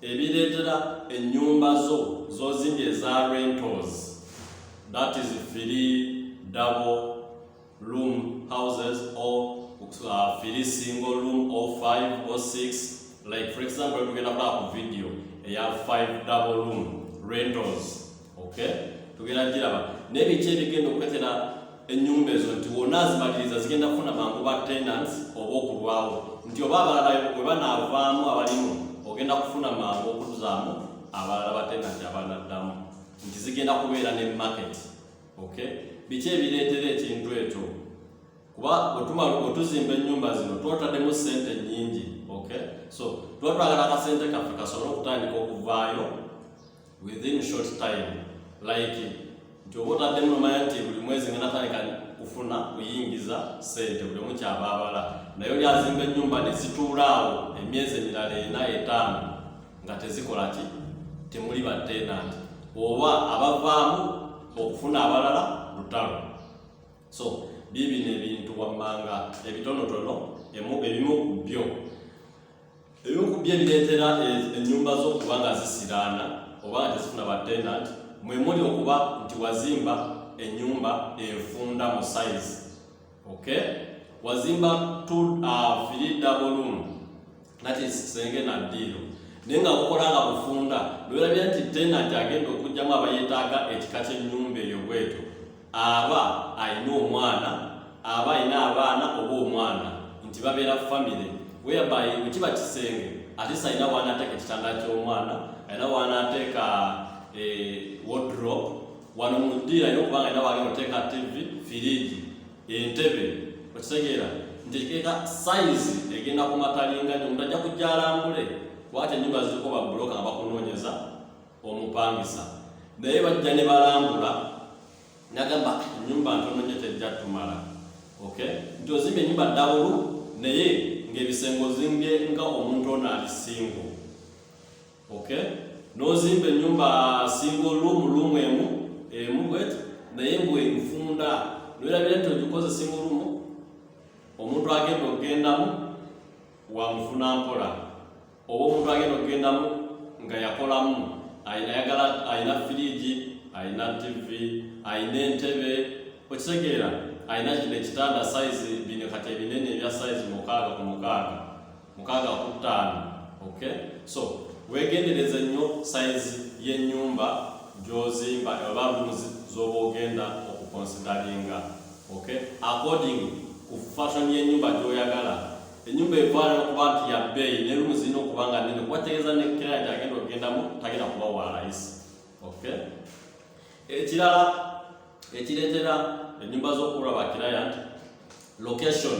ebireetera ennyumba zo z'ozimbye eza rentals that is firi double room houses or uh, firi single room or five or six like for example tugenda kulaba ku video eya five double room rentals okay tugenda giraba naye biki ebigenda okwetera ennyumba ezo nti wona azimaliriza zigenda kufuna mangu ba tenants oba okulwawo nti oba abalala bwe banaavaamu abalimu ogenda kufuna mangu okuzaamu abalala ba tenants abanaddamu nti zigenda kubeera ne market okay biki ebireetera ekintu ekyo kuba otumala otuzimba ennyumba zino twotademu sente nyingi okay so twatwagala akasente kaffe kasobole okutandika okuvaayo within short time like nti oba otaddemu nomanya nti buli mwezi nga natandika kufuna kuyingiza sente buli omu kyabaabala naye oli azimba ennyumba ne zituulaawo emyezi emirala ena etaano nga tezikola ki temuli batenanti oba abavaamu okufuna abalala lutalo so biibino ebintu wammanga ebitonotono ebimu ku byo ebimu ku byo ebireetera ennyumba zo okuba nga zisiraana oba nga tezifuna batenant mwe muli okuba nti wazimba ennyumba efunda mu sayizi okay wazimba tfiri uh, double room that is kisenge na ddiiro naye nga bukola nga bufunda nowerabira nti tenant agenda okugyamu abayetaaga ekika ky'ennyumba eyo bwetyo aba alina omwana aba alina abaana oba omwana nti babeera famire whereby bwe kiba kisenge ate salina waanaateeka ekitanda ky'omwana alina waanaateeka eh, wodrop wano mudiirayo okubanga alina waali oteeka tv firiji entebe okitegeera nti ekiteeka sayizi egenda ku matalinga nyo omuntu ajja kujja alambule kuba ate enyumba ziriko babuloka nga bakunoonyeza omupangisa naye bajja ne balambula nagamba enyumba ntono nyo tejja tumala okay nti ozimba enyumba dawulu naye ngaebisenge ozinge nga omuntu ono ali singo okay nozimba enyumba singo lumu lumu emu emu bwet naye mbwe nfunda noerabire nti ogikoze singo lumu omuntu agenda okugendamu wamufuna mpola oba omuntu agenda okugendamu nga yakolamu ayagala alina firiigi alina tivi alina entebe okitegeera alina kino ekitanda sayizi bino kati ebinene ebya sayizi mukaaga ku mukaaga mukaaga ku ttaano ok so wegendereze nnyo sayizi y'ennyumba gyozimba oba rooms z'oba ogenda okukonsidalinga ok according ku fashion y'ennyumba gy'oyagala enyumba evaayo okuba nti ya bbeeyi ne lumu zirina okuba nga nnene kuba tegeeza ne kiraya nti agenda okugendamu tagenda kuba wa layisi okay ekirala ekireetera enyumba z'okuula ba kiraya nti location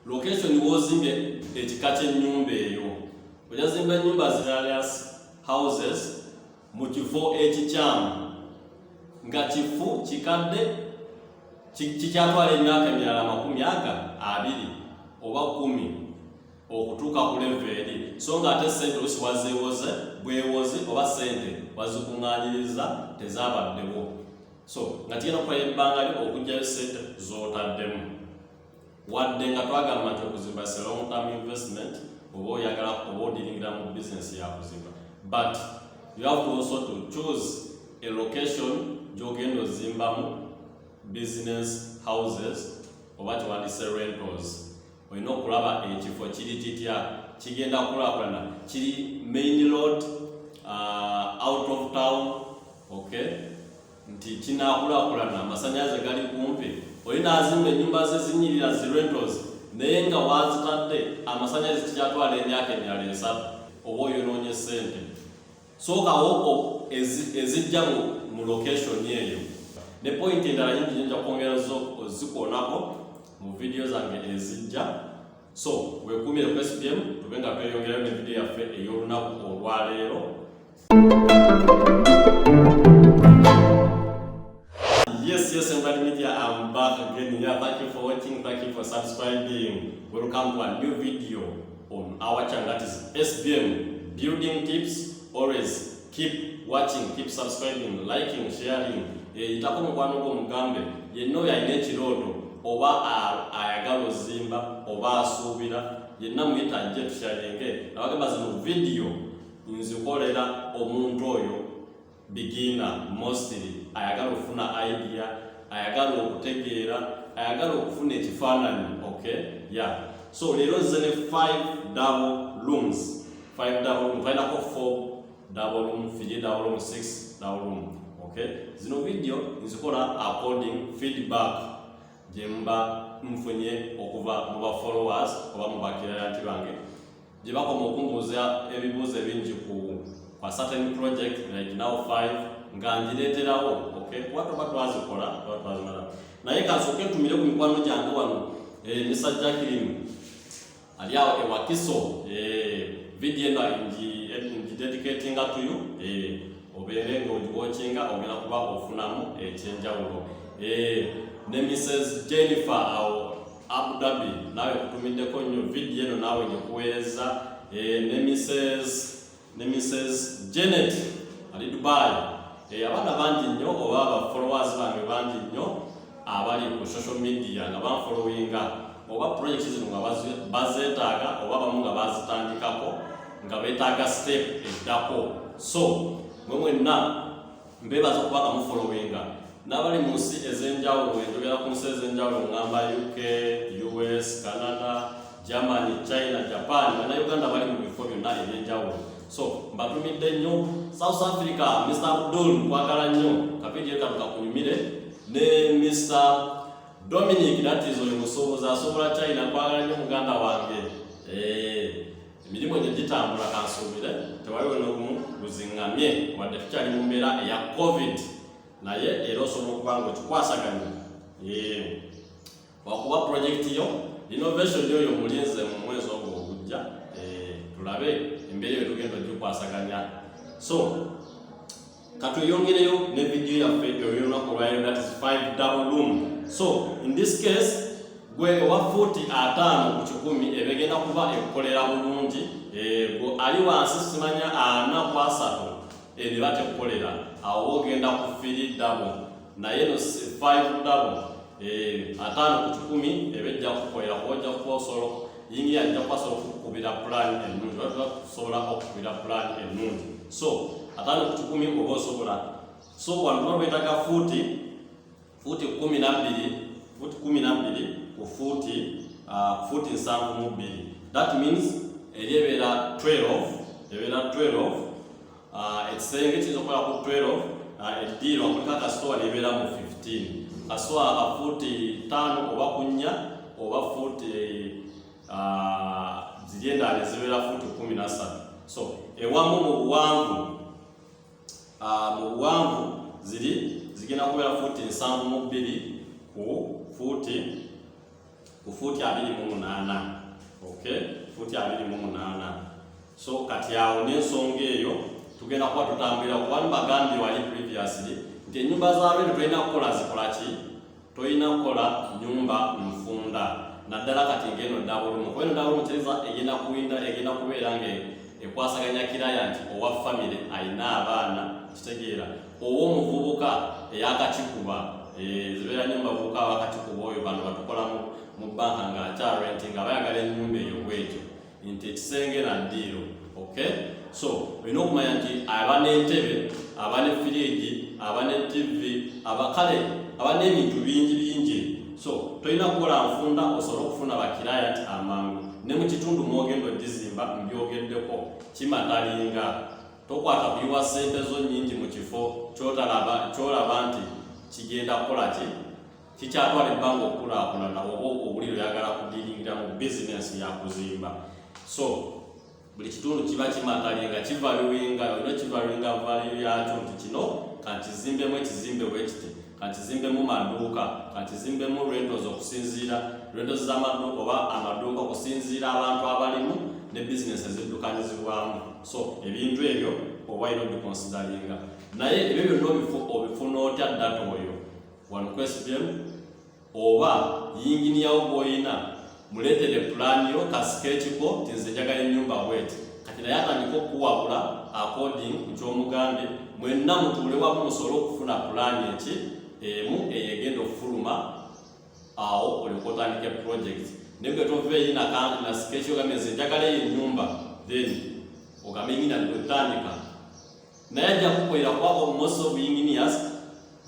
location wozimba ekika ky'ennyumba eyo ojazimba ennyumba ziralias houses mu kifo ekikyamu nga kifu kikadde kikyatwala emyaka emirala amakumi aga abiri oba kumi okutuuka ku leve eri so nga ate sente olusi wazeewoze bwewozi oba sente wazikuŋŋanyiriza tezaabaddewo so nga kigenda kukola ebbanga lyo okugyayo sente z'otaddemu wadde nga twagamba nti okuzimba se long term investment oba oyagala oba odiringira mu bizinesi yakuzimba but you have to also to choose a location gyogenda ozimbamu business houses oba kyewandise rentals olina okulaba ekifo kiri kitya kigenda kulakulana kiri main load uh, out of town okay nti kinaakulaakulana amasannyalaze gali kumpi oli n'azimba ennyumba ze zinyirira zi rentals naye nga waazitadde amasannyalaze kikyatwala emyaka emirala esatu oba oyonoonye ssente sookawo ezijja mu location eyo ne pointi endala nyingi nyinja kwongera zikoonako mu vidiyo zange ezijja so weekuumire ku spm tube nga tweyongerayo ne vidiyo yaffe ey'olunaku olwaleero Yes, yes, Embadi Media, I'm back again. Yeah, thank you for watching, thank you for subscribing. Welcome to a new video on our channel that is SBM Building Tips. Always keep watching, keep subscribing, liking, sharing. Eh, itakuwa mukwano gwo mugambe yenna oyo alina ekirooto oba ayagala ozimba oba asuubira yenna muyita ajje tushalinge abagamba zino vidiyo nzikolera omuntu oyo beginner mostly ayagala okufuna idea ayagala okutegeera ayagala okufuna ekifaananyi okay ya yeah. so leero nze ne five double rooms five double room vainako four double room fiji double room six double room okay zino video nzikola according feedback gyemba nfunye okuva mu ba followers oba mu bakirayati bange gye bakoma okumbuuza ebibuuzo ebingi ku kwa certain project like now five nga ngireeterawo okay kuba toba twazikola oba twazimala naye kansooka entumire ku mikwano gyange wano eh, misa jacklin ali awo ewakiso eh, vidiyo eno ngidedicatinga tuyo eh, obeere ng'ogiwokinga ogenda kuba ofunamu ekyenjawulo ne mrs jennifer awo Abu Dhabi nawe kutumiddeko nnyo vidiyo eno naawe gikuweereza eh, ne Mrs ne Mrs Janet ali Dubai eh, abaana bangi nnyo oba aba followers bange bangi nnyo abali ku social media nga banfollowinga oba project zino nga bazeetaaga oba bamu nga bazitandikako nga beetaaga step eddako so mwe mwenna mbebaza okuba nga mufolowinga n'abali mu nsi ez'enjawulo enjogera ku nsi ez'enjawulo ngamba uk us canada germany china japan banauganda bali mu bifo byonna eby'enjawulo so mbatumidde nnyo south africa mr abdul nkwagala nnyo kavidiyo kano kakunyumire ne mr dominic that is oyo musuubuzi asobola china nkwagala nnyo muganda wange eh. emirimu egyo gitambula kansuubire tewaliwo n'ogumu guzingamye wadde tukyali mu mbeera eya covid naye era osobola okuba nga okikwasaganya wakuba pulojekiti yo innovation yoyo mulinze mu mwezi ogwo ogujja eh, tulabe embeera eyo tugenda ogikwasaganya so katweyongereyo ne video yaffe eyolunaku olwayo that is five double room so in this case gwe owa fuuti ataano ku kikumi ebegenda kuba ekukolera bulungi eh, ali wansi simanya ana kwasatu ebiba tekukolera awo ogenda ku firi dabo naye no survive double eh atano ku kikumi ebejja kukoera kuoja kuosolo yingi ajja kwasobola okukubira pulaani ennungi oba kusobola okukubira pulaani ennungi so atano ku kikumi oba osobola so wano tuba twetaga fuuti fuuti kumi nabbiri fuuti kumi nabbiri ku fuuti ah, fuuti nsanvu mu bbiri that means eri ebeera 12 ebeera 12 Ah, ekisenge kiyinza okukola ku 12 ah, eddiirwa kuliko akasitoowa nebeera mu 15 kasitoowa ka fuuti ttaano oba ku nnya oba fuuti ah, ziri endala ezibeera fuuti kumi na ssatu so ewamu mu buwanvu mu buwanvu ziri zigenda kubeera fuuti nsanvu mu bbiri ku fuuti ku fuuti abiri mu munaana okay fuuti abiri mu munaana so kati awo n'ensonga eyo tugenda kuba tutambulira kuba nibagambye wali previously nti ennyumba za rwendo tolina kukola zikola ki tolina kukola nyumba nfunda naddala kati ngeno dabulumu kuba eno dabulumu kyeza egenda kuwinda egenda kubeera nga ekwasaganya kiraya nti owa famire alina abaana kitegeera owo omuvubuka eyakakikuba eh, zibeera nyo mubavubuka abakakikuba oyo bano batukolamu mu banka nga akyarenti nga bayagala enyumba eyo bwetyo nti ekisenge na ddiiro ok so olina okumanya nti aba n'entebe aba ne firiji aba ne tivi abakale aba n'ebintu bingi bingi so tolina kukola nfunda osobole okufuna bakiraya nti amangu ne mu kitundu mwogenda ogizimba mbyogeddeko kimatalinga tokwata kuyiwa ssente zo nnyingi mu kifo kyotalaba kyolaba nti kigenda kukola ki kikyatwala ebbanga okukulaakulana oba obuliro yagala kudiringira mu bizinensi yakuzimba so buli kitundu kiba kimatali nga kivaluwinga olina kivaluwinga valuyo yakyo nti kino kankizimbemu ekizimbe bwekiti kankizimbemu maduuka kankizimbemu rentos okusinziira rentos z'amaduuka oba amaduuka okusinziira abantu abalimu ne bizinesi eziddukanyizibwamu so ebintu ebyo oba ino bikonsidalinga naye ebyo byonna obifuna otya data oyo wano kwesibemu oba yinginiya wo gw'olina muleetere pulaani yo kasika ekiko nti nze njagala ennyumba bweti kati naye atandika okukuwabula according ku ky'omugande mwenna mutuule wamu musobole okufuna pulaani eki emu eyegenda okufuluma awo olyoka otandika eprojekiti naye gwe tova eyi nasika ekyo gambe nze njagala eyo ennyumba then ogambe nyina nti otandika naye ajja kukolera kuba most of engineers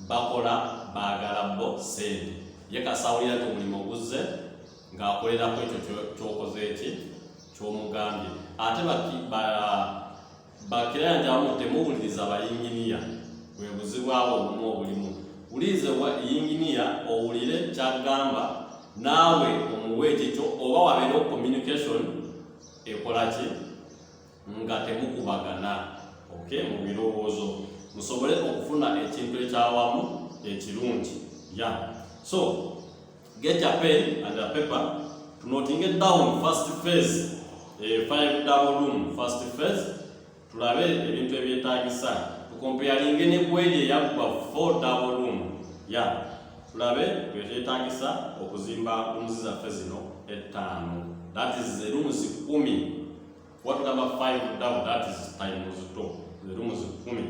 bakola baagala bo sente ye kasawulira ti omulimu oguzze ng'akolera ku ekyo kyokoze eki kyomugambye ate bakirayanja abamu temuwuliriza abayinginiya bwe buzibu abo obumu obulimu wuliriza yinginiya owulire kyagamba naawe omuwa ekikyo oba wabeera okomunication ekolaki nga temukubagana okay mu birowoozo musobole okufuna ekintu ekyawamu ekirungi ya so get a pen and a paper to noting it down first phase eh, five double room first phase tulabe ebintu ebyetaagisa tukompeyalinge ne kweri eyaggwa four double room ya tulabe bwekyetaagisa okuzimba rooms zaffe zino ettaano that is the rooms kumi What number 5 down? That is times 2. Zirimu zikumi.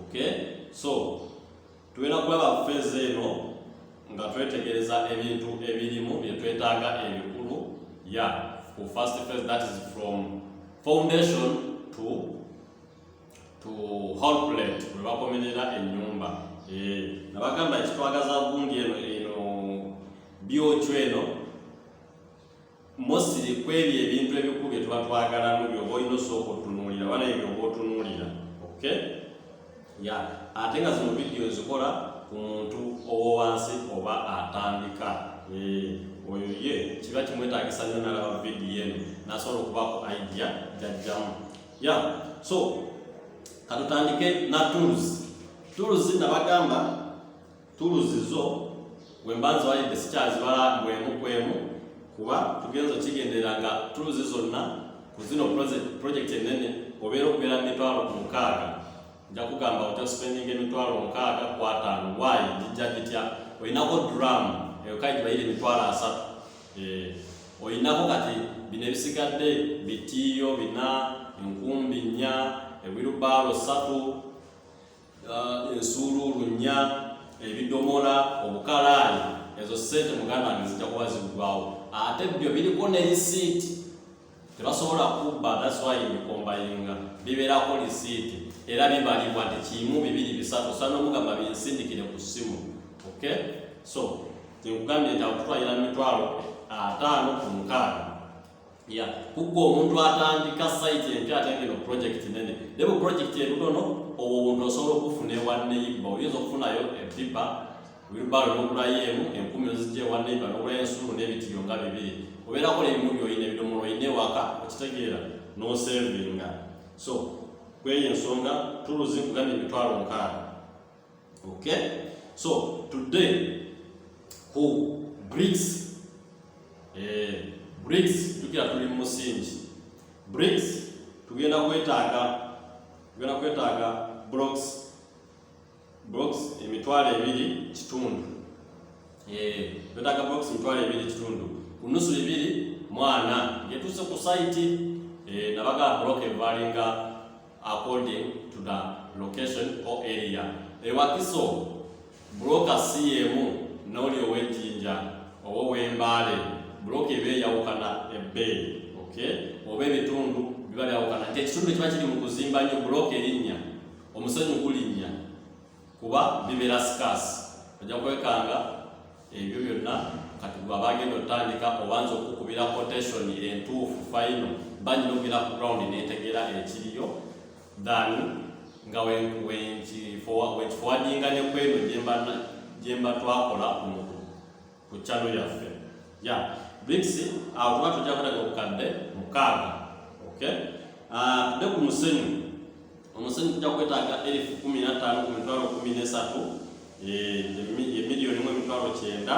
Okay? So, tulina kulaba feeza eno nga twetegereza ebintu ebirimu bye twetaaga ebikulu ya ku first phase that is from foundation to to whole plate we bakomerera ennyumba eh, nabagamba ekitwagaza gundi eno eno byocu eno mostly kwebyo ebintu ebikulu bye tuba twagalamu byoba olina osooka otunuulira oba naye byoba otunuulira ok ya ate nga zino vidiyo ezikola ku muntu owowansi oba atandika oyo ye kiba kimwetagisa nyo nalaba vidiyo eno nasobola okubaku idea jajjamu ya so katutandike na tools tools nabagamba tuluzi zo wemba nziwalidde sikyazibala bwemu kwemu kuba tugenza okigendera nga tuluzi zonna ku zino project enene obeera okubeera mitwalo ku mukaaga nja kugamba oja spending emitwalo mukaaga kwataano wayi gijja gitya olinako dram eyokai gibayire emitwalo asatu eh, olinako kati bino ebisigadde bitiiyo bina enkumbi nnya ewirubaalo satu uh, ensuuluulu nnya ebidomola obukalaani ezo sente muganda wange zijja kuba ziggwawo ate byo biriko ne lisiiti tebasobola kubba daswayi mikombayinga bibeerako lisiiti era bibalibwa nti kimu bibiri bisatu osana omugamba binsindikire ku ssimu ok so nkugambye nti akutwalira mitwalo ataano ku mukaaga ya kugwa omuntu atandika site empya ate ngeno project nene ne bu project ebutono obwo obuntu osobola okufuna ewa neiba oyinza okufunayo epipa wilbaro nokulayo emu enkumi ozijja ewa neiba nokulayo ensuulu n'ebitiyo nga bibiri obeerako nebimubi olina ebidomola olina ewaka okitegeera nosevinga so kweyo ensonga tuluzi kugana emitwalo nkaaga Okay? So today ku BRICS eh, BRICS tukira tuli mu musingi BRICS tugenda kwetaaga tugenda kwetaaga blocks blocks emitwalo ebiri kitundu eh twetaaga blocks emitwalo ebiri kitundu ku nusu ebiri mwana ngetuuse ku site eh nabaga block evalinga according to the location or area ewakiso buloka si yemu n'oli ow'ejjinja oba ow'embaale buloka eba eyawukana ebbeeyi okay? oba ebitundu biba byawukana nti ekitundu ekiba kiri mu kuzimba nnyo buloka erinnya omusenyu gulinnya kuba bibeera sikaasi ojja kwekanga ebyo byonna kati gwe abagenda otandika obanza okukubira quotation entuufu fayino banyina okugera ku ground netegera ekiriyo than nga wekifowadinga nekweno gyemba twakola ku kyalo yaffe ya brics akuba tujja kulaga obukadde mukaaga okay ah, tude ku musenyu omusenyu tujja kwetaaga erifu kumi nattaano ku mitwalo kumi nesatu emiliyoni mu emitwalo kyenda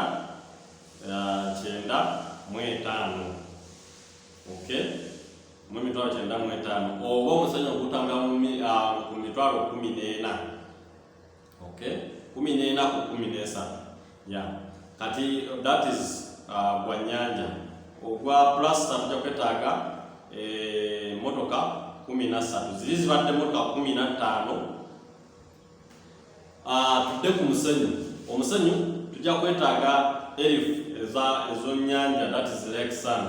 kyenda mu etaano okay mu emitwalo kyenda mu etaano oba omusenyu ogutambula ku mitwalo kumi n'ena okay kumi n'ena ku kumi n'esatu ya kati that is uh, gwa nyanja ogwa plasta tujja kwetaaga eh, motoka kumi na ssatu ziri zibadde motoka kumi na ttaano uh, tudde ku musenyu omusenyu tujja kwetaaga elif eza ezonyanja that is lake sand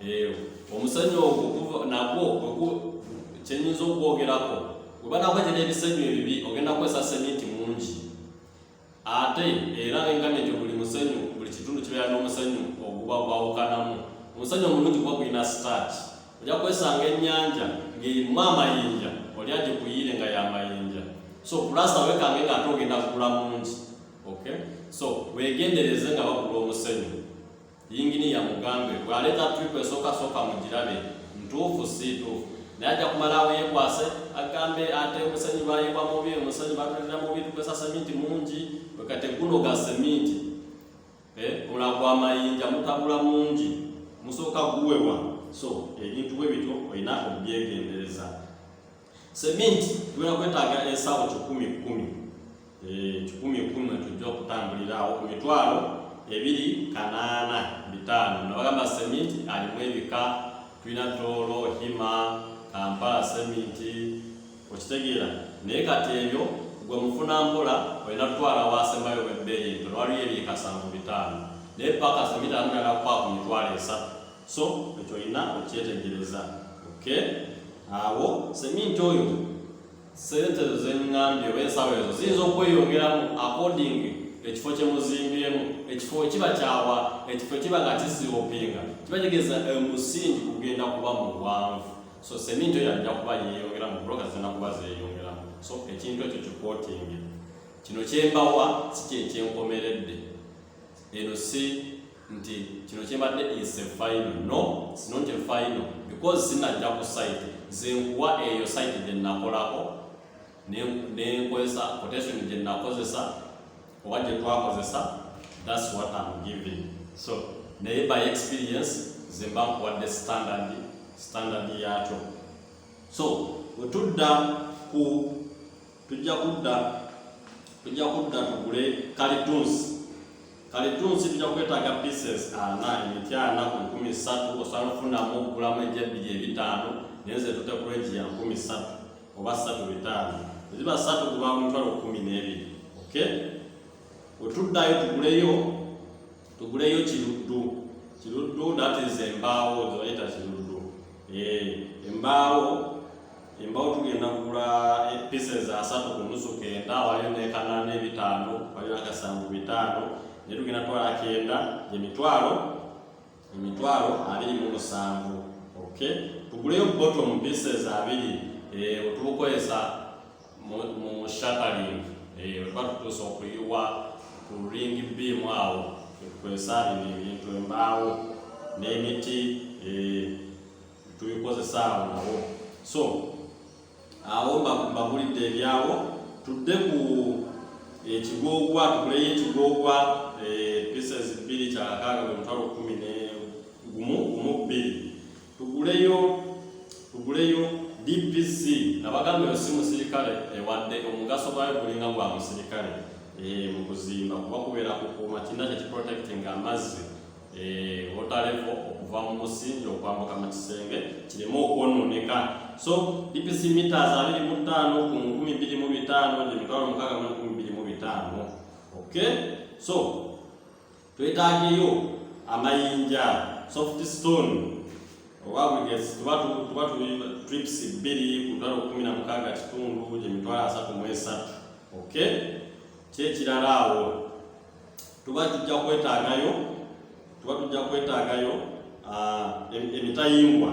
Eh, omusanyu ogwo nagwo kyenyinza okwogerako webanakwete n'ebisanyu ebibi ogenda kukozesa seminti mungi ate era engamye nti buli musanyu buli kitundu kibeera n'omusanyu oguba gwawukanamu omusanyu omulungi kuba gulina start oja kwesanga ennyanja ng'erimu amayinja oli aje kuyiire nga yamayinja so kulasa wekange nga ate ogenda kugula mungi okay so wegendereze nga bakula omusanyu yinginiya mugambe bw'aleeta tripu esooka sooka mu girabe ntuufu si ntuufu naye ajja kumalaawo yeekwase agambe ate omusenyi bayiwa mubi omusenyi batulira mubi tukozesa seminti mungi wekate guno ga seminti eh, mula gwa mayinja mutabula mungi musooka guwewa so ebintu bwe bityo olina okubyegendereza Seminti tugenda kwetaaga ensawo kikumi kumi eh, kikumi kumi tujja okutambulira awo ku mitwalo ebiri kanaana bitaano nabagamba seminti alimu ebika tulina toolo hima kampala seminti okitegeera naye kati ebyo gwe mufuna mpola olina kutwala wasembayo webbeeyi nto newaliyo ebyekasanvu bitaano naye paka seminti alinagakwa ku mitwalo esatu so ekyo olina okyetegereza oke awo seminti oyo sente ezo zengambye oba ensawo ezo ziyinza okweyongeramu according ekifo kyemuzimbyemu ekifo kiba kyawa ekifo kiba nga kisiopinga kiba kigeza omusingi kugenda kuba muwanvu so seminti oyo ajja kuba yeyongeramu buloka zirina kuba zeyongeramu so ekintu ekyo kikotinge kino kyembawa si kyekyenkomeredde eno si nti kino kyebadde is a final no it's not a final because sinajja ku site zenkuwa eyo site gyenakolako nenkozesa quotation gyenakozesa oba gyetwakozesa thats what am giving so naye by experience zemba nkuwadde standard standard yakyo so wetudda ku tujja kudda tujja kudda tugule kalitunsi kalitunsi tujja kwetaaga pieces ana emiti ana ku nkumi ssatu osobola nofunamu okugulamu egya ebbiri ebitaano naye nze tute ku regi ya nkumi ssatu oba ssatu bitaano eziba ssatu kuba mutwalo kumi n'ebiri okay wetuddayo tuguleyo tuguleyo kiruddu kiruddu natiza embaawo zebayita kiruddu eh, embaawo embaawo tugenda kugula eh, pieces asatu ku nusu kenda waliyo nekanana ebitaano waliyo akasanvu bitaano naye tugenda twala kenda emitwalo emitwalo abiri mu musanvu okay tuguleyo bottom pieces abiri eh, otubukozesa mu shataling eh, weba tutuusa okuyiwa ku ring beam awo kwesaabina ebintu embaawo n'emiti eh, tubikozesa awo nawo so awo mbagulidde ebyawo tudde ku ekigogwa tukuleyo ekigogwa eh, pieces bbiri kyakaaga bwe mutwalo kumi ne gumu gumu bbiri tuguleyo tuguleyo DPC nabagamba yo si musirikale ewadde eh, omugaso gwayo gulinga gwa musirikale eh, mu kuzimba kuba kubeera kukuuma kirina kye kiprotecting amazzi eh, water level okuva mu musingi okwambuka mu kisenge kireme okwononeka so DPC meters abiri mu ttaano ku nkumi bbiri mu bitaano gye mitwalo mukaaga mu nkumi bbiri mu bitaano okay so twetaageyo amayinja soft stone oba bwegezi tuba tuba trips bbiri ku mitwalo kumi na mukaaga kitundu gye mitwalo asatu mu esatu ok kyekirala awo tuba tujja kwetaagayo tuba tujja kwetaagayo ah, emitayimbwa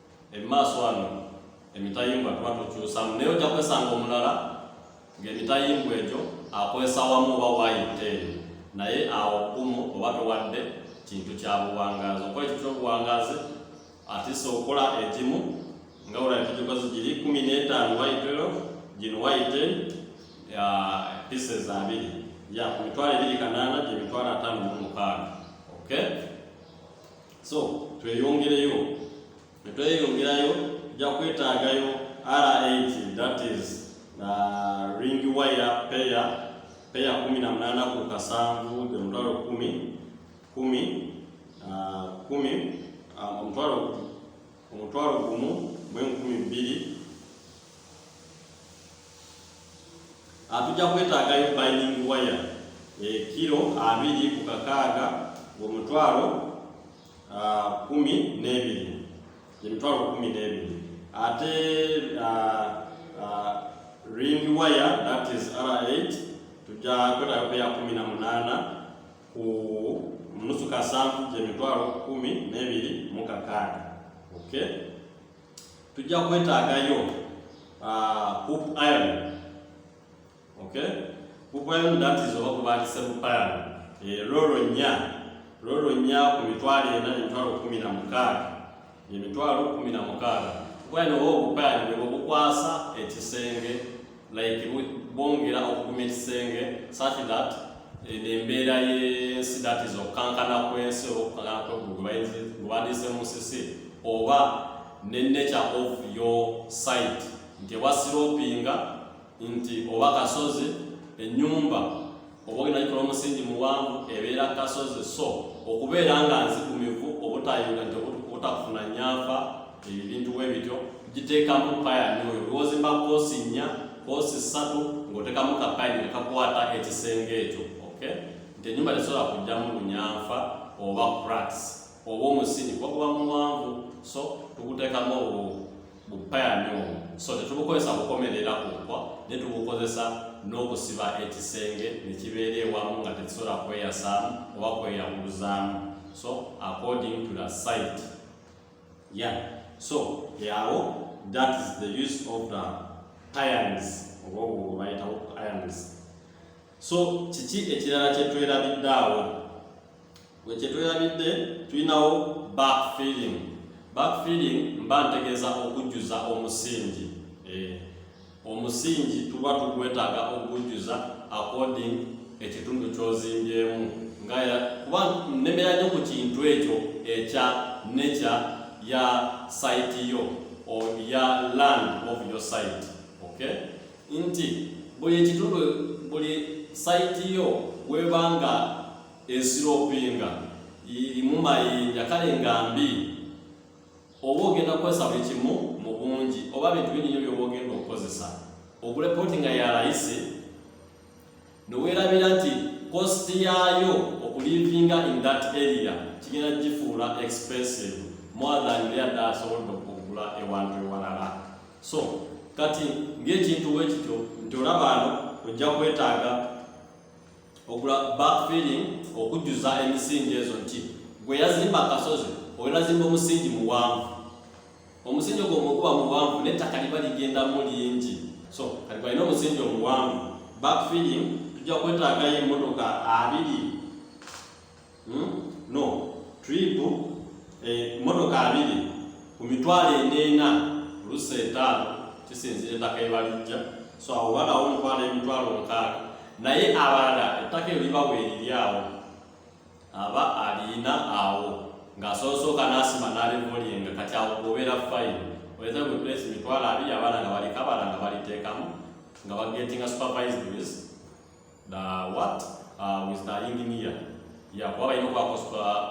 emumaaso wano emitayimbwa tuba tukyusamu naye ojja kwesanga omulala ng'emitayimbwa egyo akozesa wamu oba wayita eyo naye awo kumu oba towadde kintu kya buwangazi okola ekyo kyobuwangazi atisa okola egimu nga olaba tugikoze giri kumi n'etaano wayitero gino wayite pieces abiri ya ku mitwalo ebiri kanaana gye mitwalo ataano mu mukaaga okay so tweyongereyo netweyongerayo ja kwetaagayo r8 that is na uh, ring wire peya peya kumi na munana ku kasanvu the mutwalo kumi kumi uh, kumi uh, omutwalo omutwalo gumu mwenkumi bbiri atujja ah, kwetaagayo binding wire ekiro eh, abiri ku kakaaga ng'omutwalo ah, kumi n'ebiri emitwalo kumi n'ebiri ate ah, ring wire that is r8 tujja kwetaagayo kuya kumi na munaana ku nusu kasanvu gyemitwalo kumi n'ebiri mu kakaaga okay tujja kwetaagayo ah, hoop iron okay hoop iron that is oba kubandise hoop iron eh, lolo nya lolo nya ku mitwalo ena emitwalo kumi na mukaaga emitwalo kumi na mukaaga kuba eno oba obupayani bwe bukwasa ekisenge like bongera okuguma ekisenge such that eh, embeera yensi that is okukankana kwensi oba okukankana kweggulu gwebandiise mu musisi oba ne nature of your site nti ewa siropinga nti oba kasozi enyumba oba olina gikola omusingi muwanvu ebeera kasozi so okubeera nga nzigumivu obutayunga nti obutakufuna nyafa ebyo ebintu bwe bityo giteekamu payani oyo lwozimba koosi nnya koosi ssatu ng'oteekamu kapayini ne kakwata ekisenge ekyo ok nti ennyumba tesobola kujjamu lunyanfa oba cracks oba omusingi kuba guba muwanvu so tuguteekamu obwo bupayani omu so tetubukozesa kukomerera ku nkwa ne tubukozesa n'okusiba ekisenge ne kibeera ewamu nga tekisobola kweyasaamu oba kweyawuluzaamu so according to the site yeah so yawo that is the use of the payans oba obwo bayitawo payans so kiki ekirala kyetwerabidde awo wekyetwerabidde tulinawo backfilling backfilling mba ntegeeza okujjuza omusingi eh, omusingi tuba tugwetaaga okujjuza according ekitundu kyozimbyemu nga kuba nemera nyo ku kintu ekyo ekya nature ya site yo or ya land of your site okay nti buli ekitundu buli site yo webanga ensiro opinga irimu mayinja kale nga mbi oba ogenda kukozesa buli kimu mu bungi oba bintu bininyo byoba ogenda okukozesa ogule poti nga yalayisi newerabira nti kosti yaayo okulivinga in that area kigenda gifuula expensive more than lyadda asobodde okugula ewantu ewalala so kati ngaekintu wekityo nti olabaano ojja kwetaaga okula backfilling okujjuza emisingi ezo nti gwe yazimba akasozi oyo nazimba omusingi muwanvu omusingi ogwo mukuba muwanvu n'ettaka liba ligendamu lingi so kati gwalina omusingi omuwanvu backfilling tujja kwetaagayo emmotoka abiri hmm? no trip eh, motoka abiri ku mitwalo endeena olusa etaano kisinzira ettaka ebalijja so awo balawo omukwano emitwalo nkaaga naye abalala ettaka eyo libawo eriri awo aba alina awo ng'asoosooka n'asima n'alivulinga kati awo kubeera fayini oyinza kuplesi mitwalo abiri abaana nga balikabala nga baliteekamu nga bagetinga supervised with the what uh, with the engineer ya kuba balina okwako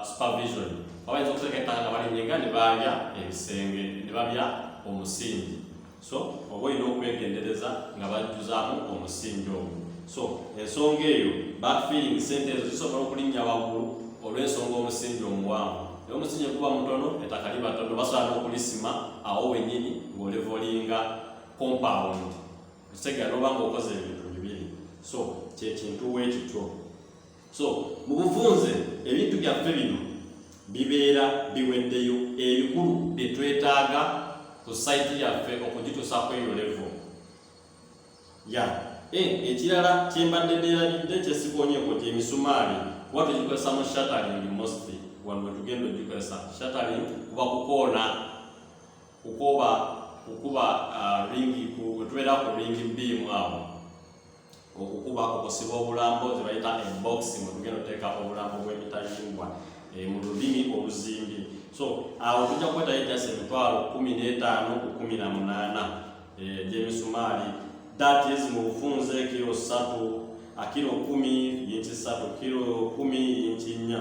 supervision kuba bayinza okuteeka ettaka nga balinyenga ne baabya ebisenge ne babya omusingi so oba olina okwegendereza nga bajjuzaamu omusingi ogwo so ensonga eyo backfilling sente ezo zisobola okulinnya waggulu olw'ensonga omusingi omuwanvu naye omusingi guba mutono ettaka liba tono basobola n'okulisima awo wennyini ng'olevolinga compound kitegera noba nga okoze ebintu bibiri so kyekintu wekityo so mu bufunze ebintu byaffe bino bibeera biweddeyo ebikulu byetwetaaga ku saiti yaffe okugitusa kweyolevo ya eh, ekirala kyembadde neerabidde kyesikonyeeko gyemisumaali kuba tugikozesa mu shataling mostly wano wetugenda ogikozesa shataling kuba kukoona kukoba kukuba uh, ringi kutubeera ku ringi bbiimu awo okukuba okusiba obulambo zebayita embokisi mwetugenda oteeka obulambo bw'emitayimbwa eh, mu lulimi oluzimbi so awo tujja kukwetayo ejasi emitwalo kumi n'etaano ku kumi na munaana eh, gy'emisumaali that is mu bufunze kiro ssatu akiro kumi yinki ssatu kiro kumi yinki nnya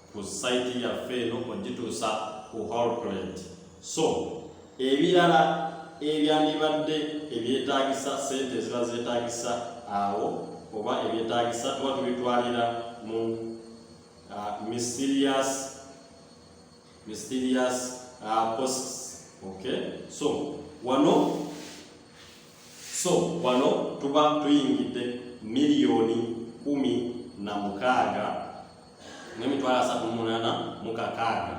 ku site yaffe eno ogituusa ku holplant so ebirala ebyandibadde ebyetaagisa sente eziba zeetaagisa awo oba ebyetaagisa tuba tubitwalira mu uh, mysterious mysterious uh, posts okay so wano so wano tuba tuyingidde miliyoni kumi na mukaaga n'emitwalo asatu mumunana mukakaaga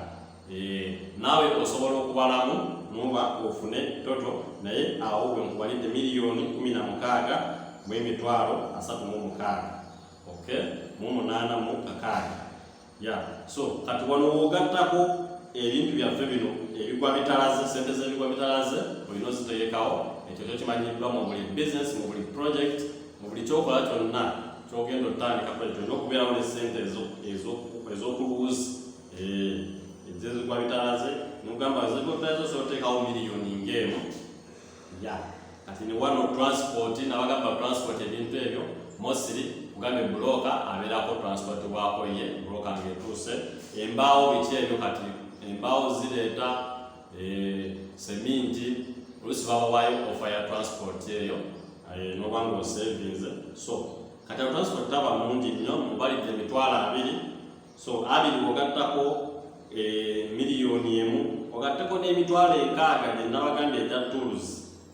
naawe osobola okubalamu noba ofune toto naye awo we nkubalidde miliyoni kumi na mukaaga mu emitwalo asatu mu mukaaga ok mu munaana mu kakaaga ya so kati wano wogattako ebintu byaffe bino ebigwa bitalaze sente z'ebigwa bitalaze olina oziteekawo ekyo kyo kimanyiddwa mu buli bizinesi mu buli projekiti mu buli kyokola kyonna kyogenda otandikako ekyo olina okubeerawo ne sente ez'okuluwuzi ezezigwa bitalaze nogamba zigobitazo soteekawo miliyoni ngaemu ya kati ne wano transport nabagamba transport ebintu ebyo mosiri kugamba ebuloka abeerako transport bwakoye buloka ngaetuuse embaawo biki ebyo kati embaawo zireeta eh, seminti olusi babawayo ofa ya transport eyo eh, nobanga osevinze so kati transport taba mungi nnyo mubalidde emitwalo abiri so abiri ogattako eh, miliyoni emu ogatteko n'emitwalo enkaaga gye nabaganda egya tools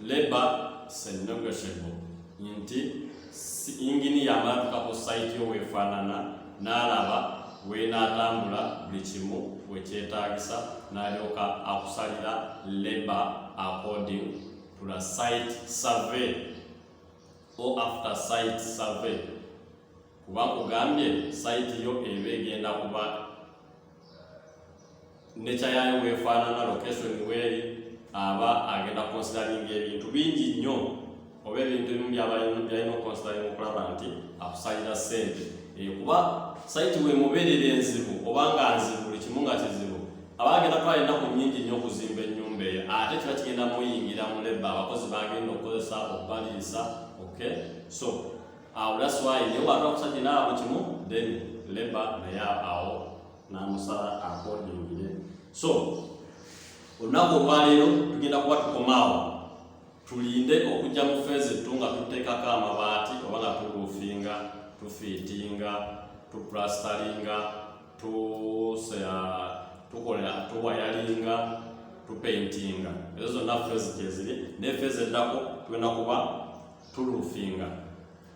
Labour is a negotiable nti yinginiya amatuka ku sayiti yo weefaanana n'alaba weenaatambula buli kimu wekyetaagisa n'alyoka akusalira labour according to the site survey or after site survey kuba kugambye sayiti yo eba egenda kuba nature yayo bwefaanana location weeri aba agenda considering ebintu bingi nnyo oba ebintu ebimu byabalina oconsidering okulaba nti akusalira sente eh, kuba saiti wemubeerera enzibu oba nga nzibu buli kimu nga kizibu aba agenda twala ennaku nyingi nnyo okuzimba ennyumba eyo ate kiba kigenda muyingira mu leba abakozi bagenda okukozesa okubaliisa okay so awo that's why naye wata okusajja naabo kimu then leba naye awo namusala akodingire so olunaku olwaleero tugenda kuba tukomaawo tulinde okujja mu feezi ttu nga tuteekako amabaati oba nga tuluufinga tufiitinga tuplastaringa tukolera tuwayalinga tupaintinga ezo zonna feezi kyeziri naye feezi eddako tugenda kuba tulufinga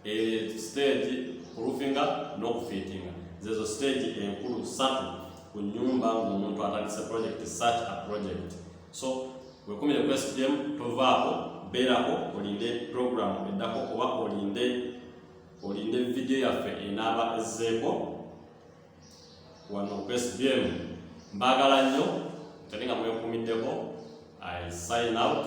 e, stage kulufinga n'okufiitinga zezo stage enkulu satu ku nyumba ng'omuntu atandise project such a project so wekumire ku stm tovaako beerako olinde program eddako oba olinde olinde vidiyo yaffe enaaba ezzeeko wano ku stm mbaagala nnyo teri nga mwekuumiddeko i sign out